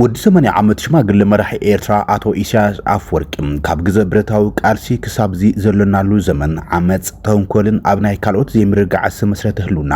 ወዲ ሰማንያ ዓመት ሽማግለ መራሒ ኤርትራ ኣቶ ኢሳያስ ኣፍወርቂ ካብ ግዘ ብረታዊ ቃልሲ ክሳብዚ ዘሎናሉ ዘመን ዓመጽ፣ ተንኮልን ኣብ ናይ ካልኦት ዘይምርግጋዕ ዝተመስረተ ህልውና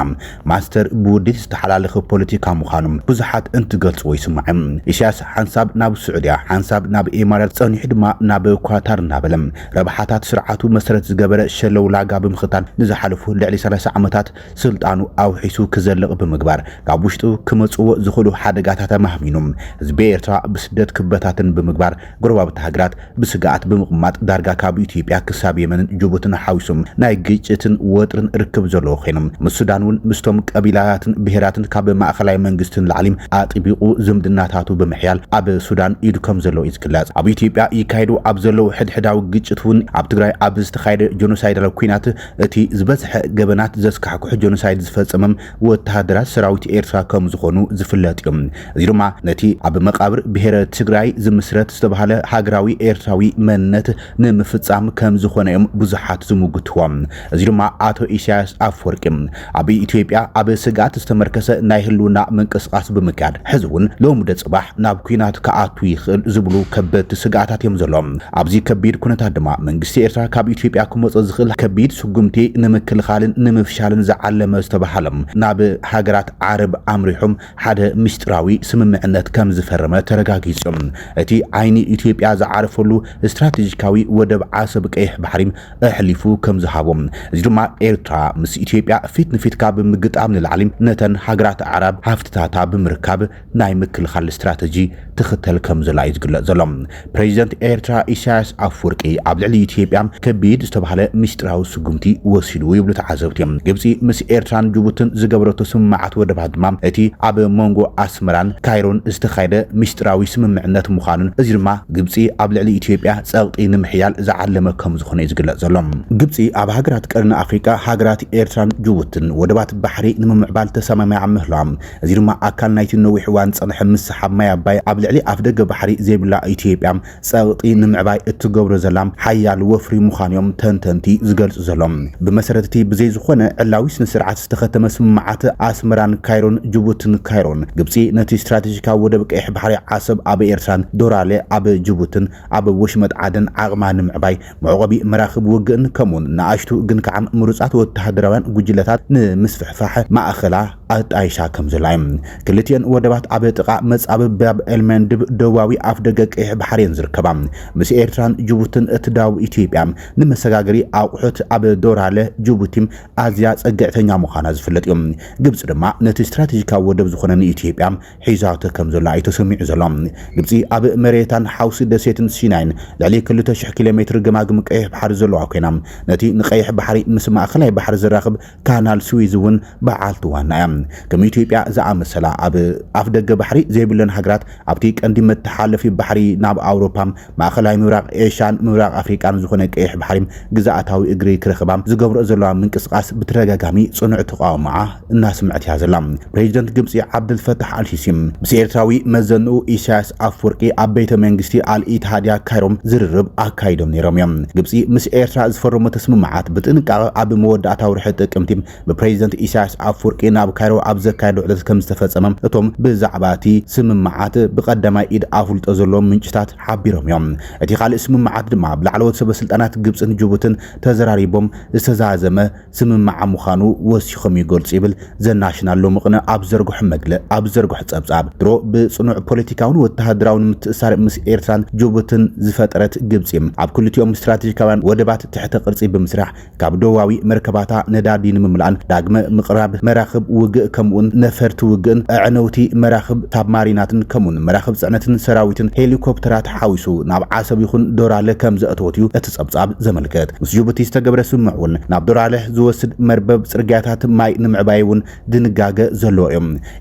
ማስተር ብውዲት ዝተሓላለኸ ፖለቲካ ምዃኑ ብዙሓት እንትገልጽዎ ይስማዕ። ኢሳያስ ሓንሳብ ናብ ስዑድያ ሓንሳብ ናብ ኤማራት ጸኒሑ ድማ ናብ ኳታር እናበለ ረብሓታት ስርዓቱ መሰረት ዝገበረ ሸለውላጋ ብምኽታል ንዝሓለፉ ልዕሊ ሰላሳ ዓመታት ስልጣኑ ኣውሒሱ ክዘልቕ ብምግባር ካብ ውሽጡ ክመጽዎ ዝኽእሉ ሓደጋታት ኣማህሚኑ ህዝቢ ኤርትራ ብስደት ክበታተን ብምግባር ጎረባብቲ ሃገራት ብስግኣት ብምቕማጥ ዳርጋ ካብ ኢትዮጵያ ክሳብ የመንን ጅቡትን ሓዊሱ ናይ ግጭትን ወጥርን ርክብ ዘለዎ ኮይኑ ምስ ሱዳን እውን ምስቶም ቀቢላታትን ብሄራትን ካብ ማእኸላይ መንግስቲ ንላዕሊ ኣጥቢቑ ዝምድናታቱ ብምሕያል ኣብ ሱዳን ኢዱ ከም ዘለዎ እዩ ዝግለጽ። ኣብ ኢትዮጵያ ይካየዱ ኣብ ዘለዉ ሕድሕዳዊ ግጭት እውን ኣብ ትግራይ ኣብ ዝተኻየደ ጆኖሳይዳላዊ ኲናት እቲ ዝበዝሐ ገበናት ዘስካሕክሑ ጆኖሳይድ ዝፈጸምም ወተሃደራት ሰራዊት ኤርትራ ከም ዝኾኑ ዝፍለጥ እዩ። እዚ ድማ ነቲ ኣብ መቓብር ብሄረ ትግራይ ዝምስረት ዝተባህለ ሃገራዊ ኤርትራዊ መንነት ንምፍጻም ከም ዝኾነ እዮም ብዙሓት ዝምጉትዎ። እዚ ድማ ኣቶ ኢሳያስ ኣፍወርቂ ኣብ ኢትዮጵያ ኣብ ስግኣት ዝተመርከሰ ናይ ህልውና ምንቅስቓስ ብምክያድ ሕዚ እውን ሎምደ ፅባሕ ናብ ኲናት ክኣቱ ይኽእል ዝብሉ ከበድቲ ስግኣታት እዮም ዘሎም። ኣብዚ ከቢድ ኩነታት ድማ መንግስቲ ኤርትራ ካብ ኢትዮጵያ ክመፆ ዝኽእል ከቢድ ስጉምቲ ንምክልኻልን ንምፍሻልን ዝዓለመ ዝተብሃሎም ናብ ሃገራት ዓረብ ኣምሪሖም ሓደ ምስጢራዊ ስምምዕነት ከምዝፈረመ ተረጋጊፁ። እቲ ዓይኒ ኢትዮጵያ ዝዓረፈሉ ስትራቴጂካዊ ወደብ ዓሰብ ቀይሕ ባሕሪ ኣሕሊፉ ከምዝሃቦ እዚ ድማ ኤርትራ ምስ ኢትዮጵያ ፊት ንፊት ካብ ምግጣም ንላዕሊ ነተን ሃገራት ኣዕራብ ሃፍትታታ ብምርካብ ናይ ምክልኻል ስትራተጂ ትኽተል ከምዘላ እዩ ዝግለጽ ዘሎ። ፕሬዚደንት ኤርትራ ኢሳያስ ኣፍወርቂ ኣብ ልዕሊ ኢትዮጵያ ከቢድ ዝተባህለ ምስጢራዊ ስጉምቲ ወሲዱ ይብሉ ተዓዘብቲ። ግብጺ ምስ ኤርትራን ጅቡትን ዝገበረቶ ስምምዓት ወደባት ድማ እቲ ኣብ መንጎ ኣስመራን ካይሮን ዝተኻየደ ምስጢራዊ ስምምዕነት ምዃኑን እዚ ድማ ግብፂ ኣብ ልዕሊ ኢትዮጵያ ፀቕጢ ንምሕያል ዝዓለመ ከምዝኾነ እዩ ዝግለፅ ዘሎ። ግብፂ ኣብ ሃገራት ቀርኒ ኣፍሪቃ ሃገራት ኤርትራን ጅቡትን ወደባት ባሕሪ ንምምዕባል ተሰማሚዓ ምህላዋ እዚ ድማ ኣካል ናይቲ ንነዊሕ እዋን ዝፀንሐ ምስሓብ ማይ ኣባይ ኣብ ልዕሊ ኣፍደገ ባሕሪ ዘይብላ ኢትዮጵያ ፀቕጢ ንምዕባይ እትገብሮ ዘላ ሓያል ወፍሪ ምዃኑ እዮም ተንተንቲ ዝገልፁ ዘሎም። ብመሰረት እቲ ብዘይ ዝኾነ ዕላዊ ስነስርዓት ዝተኸተመ ስምምዓት ኣስመራን ካይሮን ጅቡትን ካይሮን ግብፂ ነቲ ስትራቴጂካዊ ወደብ ቀይሕ ባሕሪ ዓሰብ ኣብ ኤርትራን ዶራለ ኣብ ጅቡትን ኣብ ወሽመጥ ዓደን ዓቕማ ንምዕባይ መዕቖቢ መራኽብ ውግእን ከምኡውን ንኣሽቱ ግን ከኣ ምሩጻት ወተሃደራውያን ጉጅለታት ንምስፍሕፋሕ ማእከላ ኣጣይሻ ከም ዘላ እዩ። ክልቲኤን ወደባት ኣብ ጥቓ መጻብብ ባብ ኤልመንድብ ደቡባዊ ኣፍደገ ቀይሕ ባሕሪ እየን ዝርከባ። ምስ ኤርትራን ጅቡትን እትዳወብ ኢትዮጵያ ንመሰጋገሪ ኣቑሑት ኣብ ዶራለ፣ ጅቡቲ፣ ኣዝያ ጸግዕተኛ ምዃና ዝፍለጥ እዩ። ግብጺ ድማ ነቲ ስትራተጂካዊ ወደብ ዝኾነ ንኢትዮጵያ ሒዛቶ ከም ዘላ እዩ ተሰሚዑ ዘሎ። ግብጺ ኣብ መሬታን ሓውሲ ደሴትን ሲናይን ልዕሊ ክልተ ሽሕ ኪሎ ሜትር ገማግም ቀይሕ ባሕሪ ዘለዋ ኮይና ነቲ ንቀይሕ ባሕሪ ምስ ማእከላይ ባሕሪ ዘራኽብ ካናል ስዊዝ እውን በዓልቲ ዋና እያ። ከም ኢትዮጵያ ዝኣመሰላ ኣብ ኣፍደገ ባሕሪ ዘይብለን ሃገራት ኣብቲ ቀንዲ መተሓለፊ ባሕሪ ናብ ኣውሮፓ ማእኸላይ ምብራቕ ኤሻን ምብራቕ ኣፍሪቃን ዝኾነ ቀይሕ ባሕሪ ግዝኣታዊ እግሪ ክረኽባ ዝገብረኦ ዘለዋ ምንቅስቓስ ብተደጋጋሚ ፅኑዕ ተቓውሞኣ እናስምዐት እያ ዘላ። ፕሬዚደንት ግብፂ ዓብደልፈታሕ ኣልሲሲ ምስ ኤርትራዊ መዘንኡ ኢሳያስ ኣፍወርቂ ኣብ ቤተ መንግስቲ ኣል ኢትሃድያ ካይሮ ዝርርብ ኣካይዶም ነይሮም እዮም። ግብፂ ምስ ኤርትራ ዝፈረመቶ ስምምዓት ብጥንቃቐ ኣብ መወዳእታ ወርሒ ጥቅምቲ ብፕረዚደንት ኢሳያስ ኣፍወርቂ ናብ ካይሮ ኣብ ዘካየዶ ዑደት ከምዝተፈጸመ እቶም ብዛዕባ እቲ ስምምዓት ብቀዳማይ ኢድ ኣፍልጦ ዘለዎም ምንጭታት ሓቢሮም እዮም። እቲ ካልእ ስምምዓት ድማ ብ ላዕለዎት ሰበስልጣናት ግብጽን ጅቡትን ተዘራሪቦም ዝተዛዘመ ስምምዓ ምዃኑ ወሲኾም ይገልጹ ይብል ዘናሽናል ሎሚ ቅነ ኣብ ዘርግሖ መግለ ኣብ ዘርግሖ ጸብጻብ። ድሮ ብጽኑዕ ፖለቲካውን ወተሃደራውን ምትእስሳር ምስ ኤርትራን ጅቡትን ዝፈጠረት ግብጺ፣ ኣብ ክልቲኦም ስትራተጂካውያን ወደባት ትሕተ ቅርጺ ብምስራሕ፣ ካብ ዶባዊ መርከባታ ነዳዲ ንምምላእን ዳግመ ምቕራብ መራኽብ ውግእ ከምኡውን ነፈርቲ ውግእን ኣዕነውቲ መራኽብ ሳብማሪናትን ከምኡውን መራኽብ ጽዕነትን ሰራዊትን ሄሊኮፕተራት ሓዊሱ ናብ ዓሰብ ይኹን ዶራለ ከም ዘእተወት እዩ እቲ ጸብጻብ ዘመልክት። ምስ ጅቡቲ ዝተገብረ ስምምዕ እውን ናብ ዶራለ ዝወስድ መርበብ ጽርግያታት ማይ ንምዕባይ እውን ድንጋገ ዘለዎ እዩ።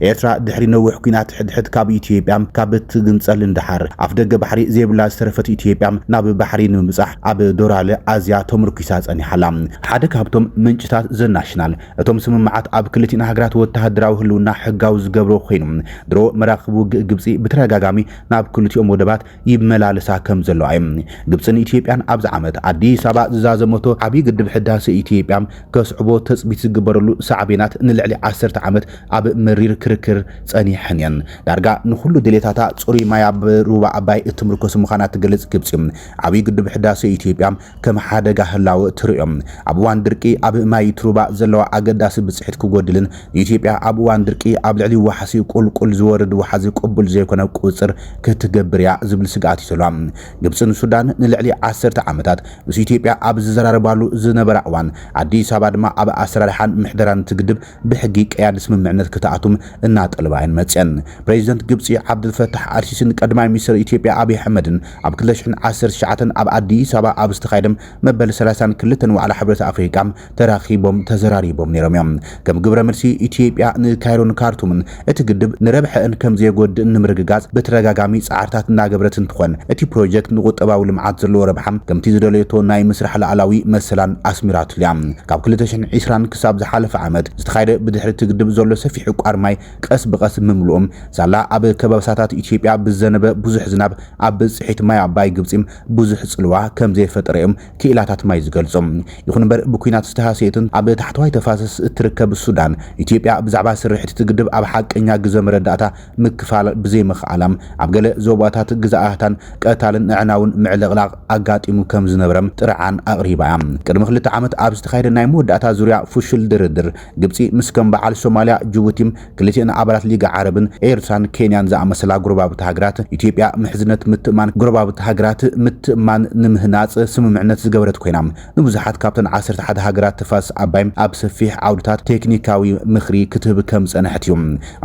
ኤርትራ ድሕሪ ነዊሕ ኲናት ሕድሕድ ካብ ኢትዮጵያ ካብ እትግንጸል ንደሓር፣ ኣፍደገ ባሕሪ ዘይብላ ዝተረፈት ኢትዮጵያ ናብ ባሕሪ ንምብጻሕ ኣብ ዶራለ ኣዝያ ተመርኲሳ ጸኒሓ ኣላ። ሓደ ካብቶም ምንጭታት ዘ ናሽናል፣ እቶም ስምምዓት ኣብ ክልቲኣን ሃገራት ወተሃደራዊ ህልውና ሕጋዊ ዝገብሮ ኰይኑ፣ ድሮ መራኽብ ውግእ ግብጺ ብተደጋጋሚ ናብ ክልቲኦም ወደባት፣ ይመላለሳ ከም ዘለዋ እዩ። ግብፅን ኢትዮጵያን ኣብዚ ዓመት ኣዲስ ኣበባ ዝዛዘመቶ ዓብዪ ግድብ ሕዳሰ ኢትዮጵያ ከስዕቦ ተፅቢት ዝግበረሉ ሳዕቤናት ንልዕሊ ዓሰርተ ዓመት ኣብ መሪር ክርክር ፀኒሐን እየን። ዳርጋ ንኹሉ ድሌታታ ፅሩይ ማይ ኣብ ሩባ ኣባይ እትምርኮስ ምዃና እትገልፅ ግብፂ ዓብዪ ግድብ ሕዳሰ ኢትዮጵያ ከም ሓደጋ ህላወ እትርእዮ፣ ኣብ እዋን ድርቂ ኣብ ማይ እቲ ሩባ ዘለዋ ኣገዳሲ ብፅሒት ክጎድልን ኢትዮጵያ ኣብ እዋን ድርቂ ኣብ ልዕሊ ዋሕሲ ቁልቁል ዝወርድ ወሓዚ ቅቡል ዘይኮነ ቁፅፅር ክትገብር እያ ዝብል ስግኣት እዩ ዘለዋ። ግብፅን ሱዳን ንልዕሊ ዓሰርተ ዓመታት ምስ ኢትዮጵያ ኣብ ዝዘራረባሉ ዝነበራ እዋን፣ ኣዲስ ኣበባ ድማ ኣብ ኣሰራርሓን ምሕደራን እቲ ግድብ ብሕጊ ቀያዲ ስምምዕነት ክትኣቱም እናጠልባ እየን መጺኣን። ፕረዚደንት ግብጺ ዓብደልፈታሕ ኣልሲሲን ቀዳማይ ሚኒስተር ኢትዮጵያ ኣብይ ኣሕመድን ኣብ ክልተ ሽሕን ዓሰርተ ትሽዓተን ኣብ ኣዲስ ኣበባ ኣብ ዝተኻየደም መበል ሰላሳን ክልተን ዋዕላ ሕብረት ኣፍሪቃ ተራኺቦም ተዘራሪቦም ነይሮም እዮም። ከም ግብረ መልሲ ኢትዮጵያ ንካይሮን ካርቱምን እቲ ግድብ ንረብሐእን ከም ዘየጎድእን ንምርግጋፅ ብተደጋጋሚ ፃዕርታት እናገበረት እንትኾን እቲ ፕሮጀክት ንቁጠባዊ ልምዓት ዘለዎ ረብሓ ከምቲ ዝደለየቶ ናይ ምስራሕ ልኣላዊ መሰላን ኣስሚራትሉ እያ። ካብ ክልተ ሽሕን ዒስራን ክሳብ ዝሓለፈ ዓመት ዝተኻየደ ብድሕሪ እቲ ግድብ ዘሎ ሰፊሕ ዕቋር ማይ ቀስ ብቐስ ምምልኡ ሳላ ኣብ ከባብሳታት ኢትዮጵያ ብዝዘነበ ብዙሕ ዝናብ ኣብ ብፅሒት ማይ ኣባይ ግብፂ ብዙሕ ፅልዋ ከምዘይፈጠረ እዮም ክኢላታት ማይ ዝገልጾ። ይኹን እምበር ብኲናት ዝተሃሰየትን ኣብ ታሕተዋይ ተፋሰስ እትርከብ ሱዳን፣ ኢትዮጵያ ብዛዕባ ስርሒት እቲ ግድብ ኣብ ሓቀኛ ግዘ መረዳእታ ምክፋል ብዘይምኽኣላም ኣብ ገለ ዞባታት ግዛኣታን ቀታልን ኣዕናውን ምዕልቕላቕ ኣጋጢሙ ከምዝነበረ ጥርዓን ኣቕሪባ እያ። ቅድሚ ክልተ ዓመት ኣብ ዝተኻየደ ናይ መወዳእታ ዙርያ ፍሹል ድርድር፣ ግብጺ ምስ ከም በዓል ሶማልያ፣ ጅቡቲ፣ ክልቲኤን ኣባላት ሊግ ዓረብን ኤርትራን ኬንያን ዝኣመሰላ ጎረባብቲ ሃገራት፣ ኢትዮጵያ ምሕዝነት ምትእምማን ጎረባብቲ ሃገራት ምትእምማን ንምህናጽ ስምምዕነት ዝገበረት ኮይና፣ ንብዙሓት ካብተን ዓሰርተ ሓደ ሃገራት ተፋሰስ ኣባይ ኣብ ሰፊሕ ዓውድታት ቴክኒካዊ ምኽሪ ክትህብ ከም ዝጸንሐት እዩ።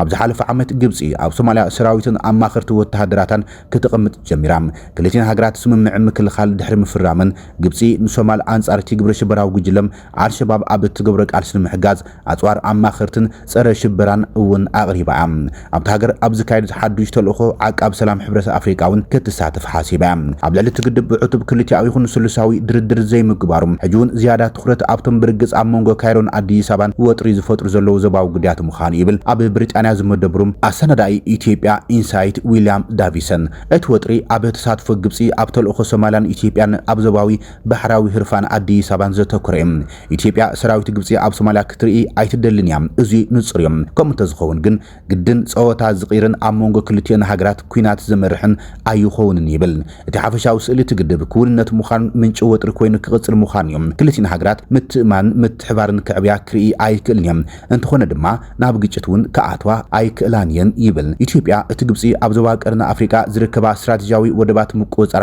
ኣብ ዝሓለፈ ዓመት ግብጺ ኣብ ሶማልያ ሰራዊትን ኣማኸርቲ ወተሃደራታን ክተቐምጥ ጀሚራ። ክልቲኤን ሃገራት ስምምዕ ምክልኻል ድሕሪ ምፍራመን፣ ግብጺ ንሶማል ኣንጻር'ቲ ግብረሽበራዊ ጉጅለ ኣልሸባብ ኣብ እትገብሮ ቃልሲ ንምሕጋዝ ኣጽዋር ኣማኸርትን ጸረ ሽበራን እውን ኣቕሪባ እያ። ኣብታ ሃገር ኣብ ዝካየድ ሓዱሽ ተልእኾ ዓቃብ ሰላም ሕብረት ኣፍሪቃ እውን ክትሳተፍ ሓሲባ እያ። ኣብ ልዕሊ እቲ ግድብ ብዕቱብ ክልቲኣዊ ይኹን ስሉሳዊ ድርድር ዘይምግባሩ ሕጂ እውን ዝያዳ ትኹረት ኣብቶም ብርግጽ ኣብ መንጎ ካይሮን ኣዲስ ኣበባን ወጥሪ ዝፈጥሩ ዘለዉ ዞባዊ ጉዳያት ምዃኑ ይብል ኣብ ብሪጣንያ ዝመደብሩ ኣሰናዳኢ ኢትዮጵያ ኢንሳይት ዊልያም ዳቪሰን። እቲ ወጥሪ ኣብ ተሳትፎ ግብጺ ኣብ ተልእኾ ሶማልያን ኢትዮጵያን ኣብ ዞባዊ ባሕራዊ ህርፋን ኣዲስ ኣበባን ዘተኮረ እዩ። ኢትዮጵያ ሰራዊት ግብጺ ኣብ ሶማልያ ክትርኢ ኣይትደልን እያ፣ እዙይ ንጹር እዩ። ከምኡ እንተዝኸውን ግን ግድን ጸወታ ዝቕይርን ኣብ መንጎ ክልቲኦን ሃገራት ኲናት ዘመርሕን ኣይኾውንን ይብል። እቲ ሓፈሻዊ ስእሊ እቲ ግድብ ክውንነት ምዃኑን ምንጪ ወጥሪ ኮይኑ ክቕጽል ምዃኑን እዩ። ክልቲን ሃገራት ምትእምማንን ምትሕብባርን ክዕብያ ክርኢ ኣይክእልን እየን፣ እንተኾነ ድማ ናብ ግጭት እውን ክኣትዋ ኣይክእላን እየን ይብል። ኢትዮጵያ እቲ ግብጺ ኣብ ዞባ ቀርኒ ኣፍሪቃ ዝርከባ ስትራቴጂያዊ ወደባት ምቁጽጻራ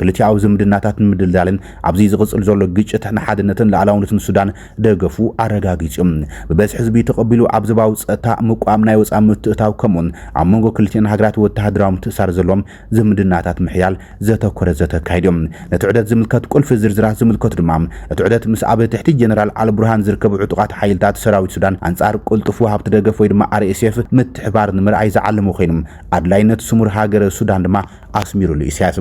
ክልቲኣዊ ዝምድናታት ንምድልዳልን ኣብዚ ዝቕጽል ዘሎ ግጭት ንሓድነትን ልኣላውነትን ሱዳን ደገፉ ኣረጋጊጹ ብበዝሒ ህዝቢ ተቐቢሉ ኣብ ዞባዊ ጸጥታ ምቋም ናይ ወጻኢ ምትእታው ከምኡውን ኣብ መንጎ ክልቲኤን ሃገራት ወተሃደራዊ ምትእሳር ዘሎም ዝምድናታት ምሕያል ዘተኮረ ዘተ ኣካይዶም ነቲ ዑደት ዝምልከት ቁልፊ ዝርዝራት ዝምልከቱ ድማ እቲ ዑደት ምስ ኣብ ትሕቲ ጀነራል ኣልቡርሃን ዝርከቡ ዕጡቓት ሓይልታት ሰራዊት ሱዳን ኣንጻር ቁልጡፍ ወሃብቲ ደገፍ ወይ ድማ RSF ምትሕባር ንምርኣይ ዝዓለሙ ኮይኑ ኣድላይነት ስሙር ሃገረ ሱዳን ድማ ኣስሚሩሉ ኢሳያስ።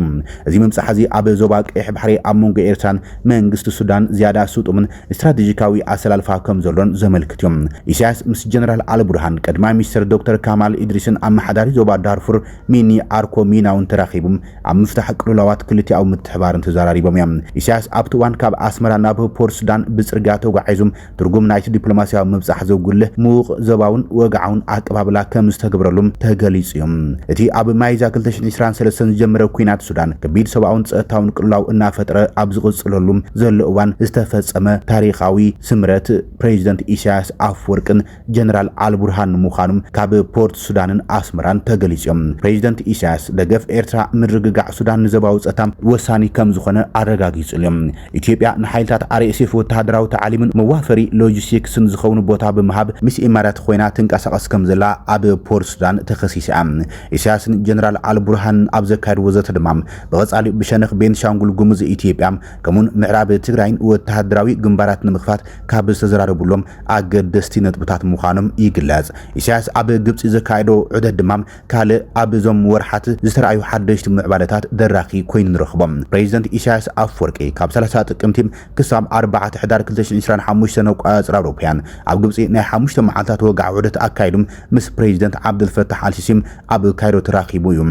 እዚ ምብጻሕ'ዚ ኣብ ዞባ ቀይሕ ባሕሪ ኣብ መንጎ ኤርትራን መንግስቲ ሱዳን ዝያዳ ስጡምን ስትራተጂካዊ ኣሰላልፋ ከም ዘሎን ዘመልክት'ዩ። ኢሳያስ ምስ ጀነራል ኣልቡርሃን፣ ቀዳማይ ሚኒስተር ዶክተር ካማል ኢድሪስን ኣመሓዳሪ ዞባ ዳርፉር ሚኒ ኣርኮ ሚናውን ተራኺቡ ኣብ ምፍታሕ ቅልውላዋት ክልቲኣዊ ምትሕብባርን ተዘራሪቦም'ዮም። ኢሳያስ ኣብቲ እዋን ካብ ኣስመራ ናብ ፖርትሱዳን ብጽርግያ ተጓዒዙ ትርጉም ናይቲ ዲፕሎማስያዊ ምብጻሕ ዘጉልህ ምዉቕ ዞባውን ወግዓውን ኣቀባብላ ከም ዝተገብረሉ ተገሊጹ እዩ። እቲ ኣብ ሚያዝያ ክልተ ሽሕን ዕስራን ሰለስተን ዝጀመረ ኲናት ሱዳን ከቢድ ሰብኣውን ጸጥታውን ቅልውላው እናፈጥረ ኣብ ዝቕጽለሉ ዘሎ እዋን ዝተፈጸመ ታሪኻዊ ስምረት ፕሬዚደንት ኢሳያስ ኣፍወርቅን ጀነራል ኣልቡርሃን ምዃኑም ካብ ፖርት ሱዳንን ኣስመራን ተገሊጹዮም። ፕሬዚደንት ኢሳያስ ደገፍ ኤርትራ ምርግጋዕ ሱዳን ንዘባዊ ጸታ ወሳኒ ከምዝኾነ ኣረጋጊጹልዮም። ኢትዮጵያ ንሓይልታት RSF ወተሃደራዊ ታዕሊምን መዋፈሪ ሎጂስቲክስን ዝኸውን ቦታ ብምሃብ ምስ ኢማራት ኾይና ትንቀሳቐስ ከምዘላ ኣብ ፖርት ሱዳን ተኸሲሳያ። ኢሳያስን ጀነራል ኣልቡርሃንን ኣብ ዘካየድዎ ዘተ ድማ ብቐጻሊ ብሸነኽ ቤንሻንጉል ጉሙዝ ኢትዮጵያ ከምኡውን ምዕራብ ትግራይን ወተሃደራዊ ግንባራት ንምኽፋት ካብ ዝተዘራረቡሎም ኣገደስቲ ነጥብታት ምዃኖም ይግለጽ። ኢሳያስ ኣብ ግብጺ ዘካየዶ ዑደት ድማ ካልእ ኣብ እዞም ወርሓት ዝተራእዩ ሓደሽቲ ምዕባለታት ደራኺ ኮይኑ ንረኽቦ። ፕረዚደንት ኢሳያስ ኣፍወርቂ ካብ ሰላሳ ጥቅምቲ ክሳብ ኣርባዕተ ሕዳር ክልተ ሽሕን ዕስራን ሓሙሽተን ኣቆጻጽራ ኣውሮፓውያን ኣብ ግብጺ ናይ ሓሙሽተ መዓልታት ወግዓዊ ዑደት ኣካይዱ ምስ ፕረዚደንት ዓብደልፈታሕ ኣልሲሲ ኣብ ካይሮ ተራኺቡ እዩ።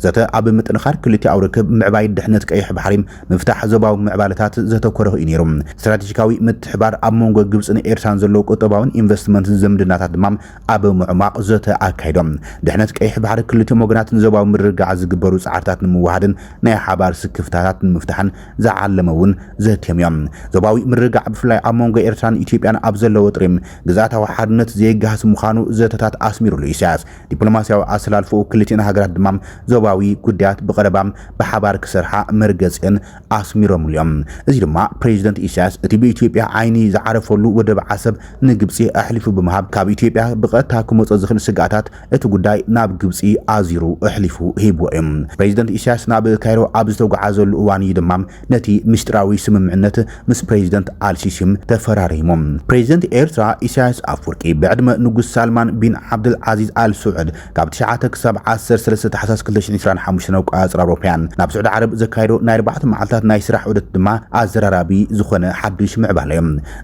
ዘተ ኣብ ምጥንኻር ክልቲኣዊ ርክብ፣ ምዕባይ ድሕነት ቀይሕ ባሕሪ፣ ምፍታሕ ዞባዊ ምዕባለታት ዘተኮረ ኹዩ ነይሩ። ስትራቴጂካዊ ምትሕብባር ኣብ መንጎ ግብፅን ኤርትራን ዘሎ ቁጠባዊን ኢንቨስትመንትን ዝምድናታት ድማ ኣብ ምዕሟቕ ዘተ ኣካይዶም። ድሕነት ቀይሕ ባሕሪ ክልቲኦም ወገናት ንዞባዊ ምርግጋዕ ዝግበሩ ፃዕርታት ንምውህሃድን ናይ ሓባር ስክፍታታት ንምፍታሕን ዝዓለመ እውን ዘትዮም እዮም። ዞባዊ ምርግጋዕ ብፍላይ ኣብ መንጎ ኤርትራን ኢትዮጵያን ኣብ ዘሎ ወጥሪ ግዝኣታዊ ሓድነት ዘየጋህስ ምዃኑ ዘተታት ኣስሚሩሉ ኢሳያስ። ዲፕሎማስያዊ ኣሰላልፋኡ ክልቲኤን ሃገራት ድማ ዞባዊ ጉዳያት ብቐረባ ብሓባር ክሰርሓ መርገጺኤን ኣስሚሮምሉ እዮም። እዚ ድማ ፕሬዚደንት ኢሳያስ እቲ ብኢትዮጵያ ዓይኒ ዝዓረፈሉ ወደብ ዓሰብ ንግብጺ ኣሕሊፉ ብምሃብ ካብ ኢትዮጵያ ብቐጥታ ክመጾ ዝኽእል ስግኣታት እቲ ጉዳይ ናብ ግብጺ ኣዙሩ እሕሊፉ ሂብዎ እዩ። ፕሬዚደንት ኢሳያስ ናብ ካይሮ ኣብ ዝተጉዓዘሉ እዋን እዩ ድማ ነቲ ምስጢራዊ ስምምዕነት ምስ ፕሬዚደንት ኣልሲሲም ተፈራሪሙ። ፕሬዚደንት ኤርትራ ኢሳያስ ኣፍወርቂ ብዕድመ ንጉስ ሳልማን ቢን ዓብደልዓዚዝ ኣል ስዑድ ካብ ትሽዓተ ክሳብ ዓሰርተ ሰለስተ ታሕሳስ ክልተ ሽሕን ዕስራን ሓሙሽተን ኣቆጻጽራ ኣውሮፓውያን ናብ ስዑዲ ዓረብ ዘካየዶ ናይ ኣርባዕተ መዓልታት ናይ ስራሕ ዑደት ድማ ኣዘራራቢ ዝኾነ ሓድሽ ምዕባለዮ።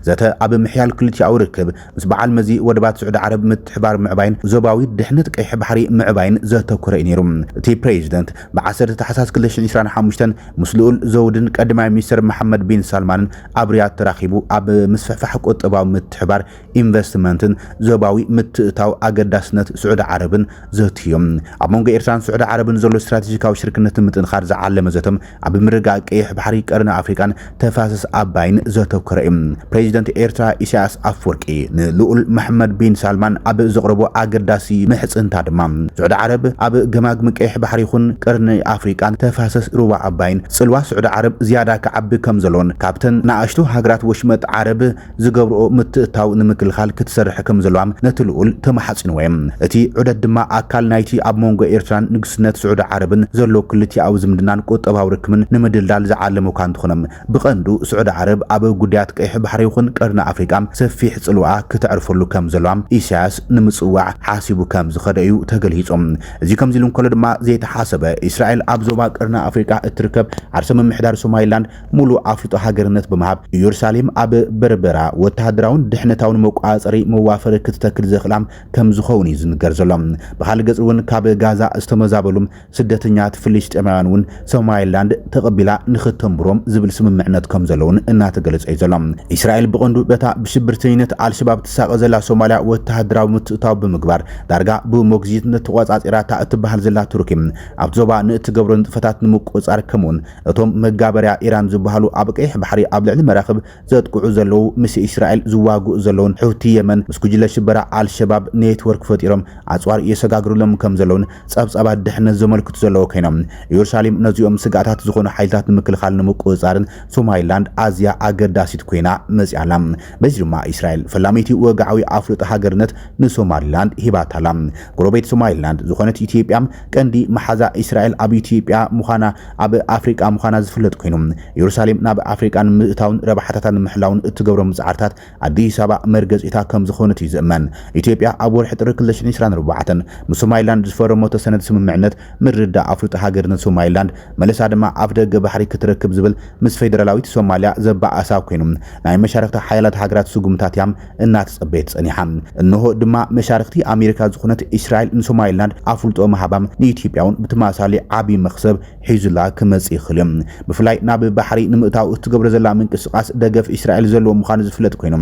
ዘተ ኣብ ምሕያል ክልቲኣዊ ርክብ ምስ በዓል መዚ ወደባት ስዑዲ ዓረብ ምትሕብባር ምዕባይን ዞባዊ ድሕነት ቀይሕ ባሕሪ ምዕባይን ዘተኮረ እዩ ነይሩ። እቲ ፕሬዚደንት ብ ዓሰርተ ታሕሳስ ክልተ ሽሕን ዕስራን ሓሙሽተን ምስ ልኡል ዘውድን ቀዳማይ ሚኒስትር መሓመድ ቢን ሳልማንን ኣብ ሪያድ ተራኺቡ ኣብ ምስፍሕፋሕ ቁጠባዊ ምትሕብባር፣ ኢንቨስትመንትን ዞባዊ ምትእትታው ኣገዳስነት ስዑዲ ዓረብን ዘትዮም። ኣብ መንጎ ኤርትራን ስዑዲ ዓረብን ዘሎ ስትራቴጂካዊ ሽርክነት ንምጥንኻር ዝዓለመ ዘተ ኣብ ምርግጋእ ቀይሕ ባሕሪ፣ ቀርኒ ኣፍሪቃን ተፋሰስ ኣባይን ዘተኮረ እዩ። ፕሬዚደንት ኤርትራ ኢሳያስ ኣፍወርቂ ንልኡል መሓመድ ቢን ሳልማን ኣብ ዘቕረቦ ኣገዳሲ ምሕጽንታ ድማ፣ ስዑዲ ዓረብ ኣብ ገማግም ቀይሕ ባሕሪ ይኹን ቀርኒ ኣፍሪቃን ተፋሰስ ሩባ ኣባይን ጽልዋ ስዑዲ ዓረብ ዝያዳ ክዓቢ ከምዘለዎን ካብተን ንኣሽቱ ሃገራት ወሽመጥ ዓረብ ዝገብርኦ ምትእትታው ንምክልኻል ክትሰርሕ ከምዘለዋ ነቲ ልኡል ተማሓጺንዎ እየ። እቲ ዑደት ድማ ኣካል ናይቲ ኣብ መንጎ ኤርትራን ንግስነት ስዑዲ ዓረብን ዘሎ ክልቲኣዊ ዝምድናን ቁጠባዊ ርክብን ንምድልዳል ዝዓለመ'ኳ እንተኾነ ብቐንዱ ስዑዲ ዓረብ ኣብ ጉዳያት ቀይሕ ባሕሪ ይኹን ቀርኒ ኣፍሪቃ ሰፊሕ ጽልዋኣ ክተዕርፈሉ ከምዘለዋ ኢሳያስ ንምጽዋዕ ሓሲቡ ከምዝኸደ እዩ ተገሊጹ። እዚ ከምዚሉ እንከሎ ድማ ዘይተሓሰበ እስራኤል ኣብ ዞባ ቀርኒ ኣፍሪቃ እትርከብ ዓርሰ ምምሕዳር ሶማሊላንድ ሙሉእ ኣፍልጦ ሃገርነት ብምሃብ ኢየሩሳሌም ኣብ በርበራ ወተሃደራውን ድሕነታውን መቆጻጸሪ መዋፈሪ ክትተክል ዘኽእላ ከም ዝኸውን እዩ ዝንገር ዘሎ። ብኻልእ ገጽ እውን ካብ ጋዛ ዝተመዛበሉ ስደተኛታት ፍልስጤማውያን እውን ሶማሊላንድ ተቐቢላ ንኽተንብሮም ዝብል ስምምዕነት ከም ዘሎ እውን እናተገለጸ እዩ ዘሎ። እስራኤል ብቐንዱ በታ ብሽብርተኝነት ኣልሸባብ ትሳቐ ዘላ ሶማልያ ወተሃደራዊ ምትእትታው ብምግባር ዳርጋ ብሞግዚትነት ተቆጻጺራታ እትበሃል ዘላ ቱርኪ ኣብቲ ዞባ ንእትገብሮ ንጥፈታት ንምቁጽጻር ከምኡውን እቶም መጋበርያ ኢራን ዝብሃሉ ኣብ ቀይሕ ባሕሪ ኣብ ልዕሊ መራኽብ ዘጥቅዑ ዘለዉ ምስ እስራኤል ዝዋግኡ ዘለዉን ሑቲ የመን ምስ ጉጅለ ሽበራ ኣልሸባብ ኔትወርክ ፈጢሮም ኣጽዋር የሰጋግርሎም ከም ዘለዉን ጸብጻባት ድሕነት ዘመልክቱ ዘለዉ ከይኖም እዮርሳሌም ነዚኦም ስግኣታት ዝኾኑ ሓይልታት ንምክልኻልን ንምቁጽጻርን ሶማይላንድ ኣዝያ ኣገዳሲት ኮይና መጺኣ ኣላ። በዚ ድማ እስራኤል ፈላመይቲ ወግዓዊ ኣፍልጦ ሃገርነት ንሶማሊላንድ ሂባታ ኣላ። ጎረቤት ሶማሊላንድ ዝኾነት ኢትዮጵያ ቀንዲ መሓዛ እስራኤል ኣብ ኢትዮጵያ ምዃና ኣብ ኣፍሪቃ ምዃና ዝፍለጥ ኮይኑ፣ የሩሳሌም ናብ ኣፍሪቃ ንምእታውን ረብሓታታ ንምሕላውን እትገብሮም ጻዕርታት ኣዲስ ኣበባ መርገጺታ ከም ዝኾነት እዩ ዝእመን። ኢትዮጵያ ኣብ ወርሒ ጥሪ ክልተ ሽሕን ዕስራን ኣርባዕተን ምስ ሶማሊላንድ ዝፈረመቶ ሰነድ ስምምዕነት ምርድዳእ ኣፍልጦ ሃገርነት ሶማሊላንድ መለሳ ድማ ኣፍደገ ባሕሪ ክትረክብ ዝብል ምስ ፌደራላዊት ሶማሊያ ዘበኣእሳ ኮይኑ ናይ መሻርኽቲ ሓያላት ሃገራት ስጉምታት እያ እናተጸበየት ጸኒሓ እንሆ ድማ መሻርኽቲ ኣሜሪካ ዝኾነት እስራኤል ንሶማሊላንድ ኣፍልጦ ምሃባ ንኢትዮጵያ እውን ብተመሳሳሊ ዓቢ መኽሰብ ሒዙላ ክመጽእ ይኽእል እዩ። ብፍላይ ናብ ባሕሪ ንምእታው እትገብሮ ዘላ ምንቅስቓስ ደገፍ እስራኤል ዘለዎ ምዃኑ ዝፍለጥ ኮይኑ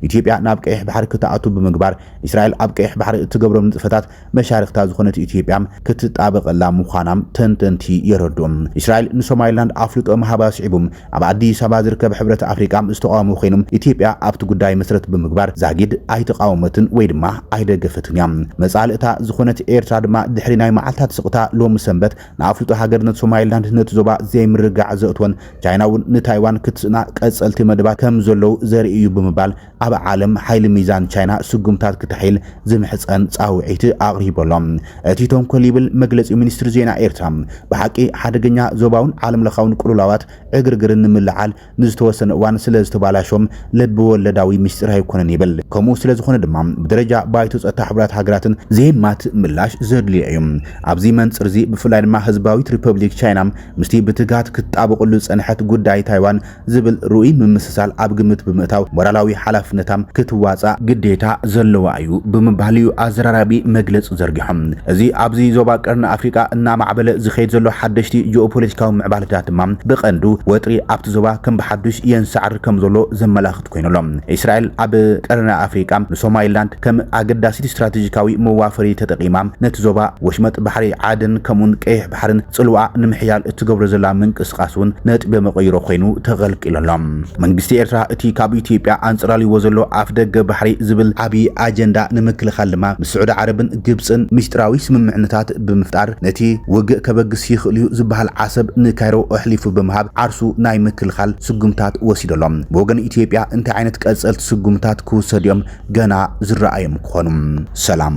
ኢትዮጵያ ናብ ቀይሕ ባሕሪ ክትኣቱ ብምግባር እስራኤል ኣብ ቀይሕ ባሕሪ እትገብሮም ንጥፈታት መሻርኽታ ዝኾነት ኢትዮጵያ ክትጣበቐላ ምዃና ተንተንቲ የረድኡ። እስራኤል ንሶማሊላንድ ኣፍልጦ ምሃባ ኣስዒቡ ኣብ ኣዲስ ኣበባ ዝርከብ ሕብረት ኣፍሪቃ ዝተቓወሞ ኮይኑ፣ ኢትዮጵያ ኣብቲ ጉዳይ መሰረት ብምግባር ዛጊድ ኣይተቓወመትን ወይ ድማ ኣይደገፈትን እያ። መጻልእታ ዝኾነት ኤርትራ ድማ ድሕሪ ናይ መዓልታት ስቕታ ሎሚ ሰንበት ንኣፍልጦ ሃገርነት ሶማሊላንድ ነቲ ዞባ ዘይምርግጋዕ ዘእትወን ቻይና'ውን ንታይዋን ክትስእና ቀጸልቲ መደባት ከምዘለዉ ዘርኢ እዩ ብምባል ኣብ ዓለም ሓይሊ ሚዛን ቻይና ስጉምታት ክተሕይል ዝምሕጸን ጻውዒት ኣቕሪቡ ኣሎ። እቲ ተንኮል ይብል መግለጺ ሚኒስትሪ ዜና ኤርትራ፣ ብሓቂ ሓደገኛ ዞባውን ዓለምለኻውን ቅልውላዋት ዕግርግርን ንምልዕዓል ንዝተወሰነ እዋን ስለዝተባላሾም ልቢወለዳዊ ምስጢር ኣይኮነን ይብል። ከምኡ ስለዝኾነ ድማ ብደረጃ ባይቶ ጸጥታ ሕቡራት ሃገራትን ዘየማትእ ምላሽ ዘድልዮ እዩ። ኣብዚ መንጽርዚ ብፍላይ ድማ ህዝባዊት ሪፐብሊክ ቻይና ምስቲ ብትግሃት ክትጣበቐሉ ዝጸንሐት ጉዳይ ታይዋን ዝብል ርኡይ ምምስሳል ኣብ ግምት ብምእታው ሞራላዊ ሓላፍነታም ክትዋፃእ ግዴታ ዘለዋ እዩ ብምባል እዩ ኣዘራራቢ መግለፂ ዘርጊሖም። እዚ ኣብዚ ዞባ ቀርኒ ኣፍሪቃ እናማዕበለ ዝኸይድ ዘሎ ሓደሽቲ ጂኦፖለቲካዊ ምዕባለታት ድማ ብቐንዱ ወጥሪ ኣብቲ ዞባ ከም ብሓዱሽ የንሳዕርር ከም ዘሎ ዘመላኽት ኮይኑ ኣሎ። እስራኤል ኣብ ቀርኒ ኣፍሪቃ ንሶማሊላንድ ከም ኣገዳሲት ስትራቴጂካዊ መዋፈሪ ተጠቒማ ነቲ ዞባ ወሽመጥ ባሕሪ ዓደን ከምኡ'ውን ቀይሕ ባሕርን ጽልዋኣ ንምሕያል እትገብሮ ዘላ ምንቅስቓስ እውን ነጥቢ መቐይሮ ኮይኑ ተቐልቂሉ ኣሎ። መንግስቲ ኤርትራ እቲ ካብ ኢትዮጵያ ኣንጸላልይዎ ዘሎ ኣፍደገ ባሕሪ ዝብል ዓቢ ኣጀንዳ ንምክልኻል ድማ ምስ ስዑዲ ዓረብን ግብጽን ምስጢራዊ ስምምዕነታት ብምፍጣር ነቲ ውግእ ከበግስ ይኽእል'ዩ ዝበሃል ዓሰብ ንካይሮ ኣሕሊፉ ብምሃብ ዓርሱ ናይ ምክልኻል ስጉምታት ወሲዱ ኣሎ። ብወገን ኢትዮጵያ እንታይ ዓይነት ቀጸልቲ ስጉምታት ክውሰዱ'ዮም ገና ዝረኣዮም ክኾኑ። ሰላም!